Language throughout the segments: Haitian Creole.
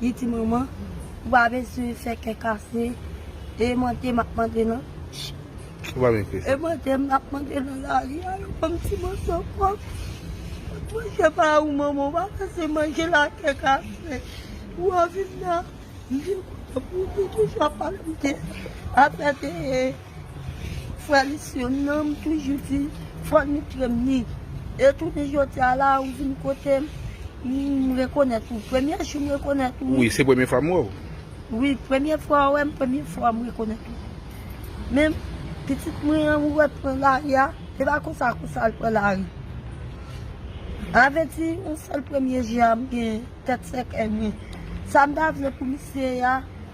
Di ti manman ou pa bezwen fè kè kase e mande map mande nan e mande map mande nan lari a yo banm ti moso pwòp tout manje pa ou manman ou pa pase manje la kè kase ou anvi m nan m vin kontan pou ou m toujou ap pale m de apè de Frè li sè m nan m toujou di fò nou krèm ni e jounen jodi a la ou vin kote m m rekonèt ou premye jou m rekonèt ou wi se premye fwa m wè w wi premye fwa w wè m premye fwa m rekonèt ou men pitit mwen an ou wè l pran lari a se pa konsa konsa l pran lari sa vle di yon sèl premye je a m gen tèt sèkèy mwen sa m ta vle pou misye a.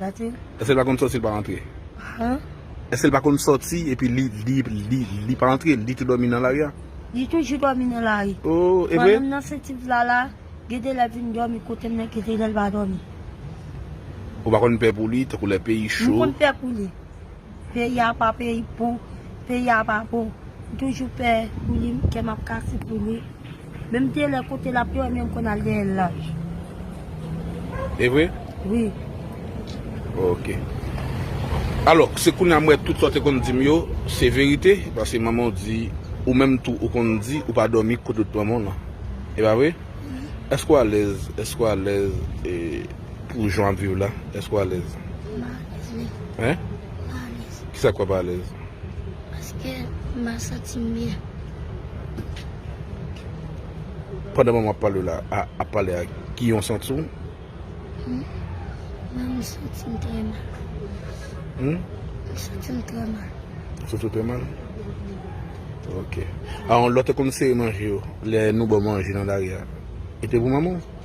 Èske l pa konn sòti l pa rantre? Èske l pa konn sòti epi li pa rantre, li tou dòmi nan lari a? Li toujou dòmi nan lari. Oh, e vre? Pandan m nan senti vla la, gen de lè l vin dòmi kote m nan kite l, lè l pa dòmi. Ou pa konn pè pou li, tankou lè peyi cho? M konn pè pou li. Peyi a pa peyi pou Peyi a pa bon M toujou pè pou li m Kè m ap kase pou li Men m genlè kote l ap dòmi M konn al dèyè l la E vre? Wi Ok Alò se kounye a m wè tout sa w te konn di m yo se verite Paske manman w di Ou menm tou ou konn di ou pa dòmi kote w t manman w lan E pa vre? Èske w alèz Èske w alèz E. Pou jan wap viv la eske w alèz? M pa alèz menm. Hein? M pa alèz. Kisa k fè w pa alèz? Paske m pa santi m byen. Pandan manman w ap pale w la ap pale ak ki yon santi w? Mwen menm m santi m trè mal. Hum? M santi m trè mal. Ou santi w trè mal? Ok. An lò te konn sere manje yo lè nou ba w manje nan lari a? Li te pou manman w?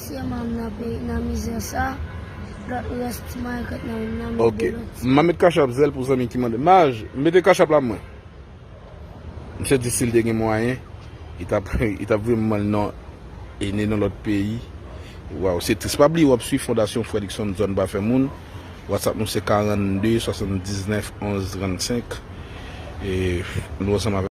Mesye manm nan peyi nan mizè sa lot res ti maigret nan menm nan men de lot sa. Map met cash app zèl pou zanmi ki mande. Maj, mete cash app la pou mwen. Misye di sil te gen mwayen li tap li tap voye manman l nan ene nan lot peyi. Waw se tris. Pa bliye wap swiv Fondasyon Fredrickson Zòn pa fè moun. Whatsapp nou se 42 79 11 35 e nou ansanm avèk.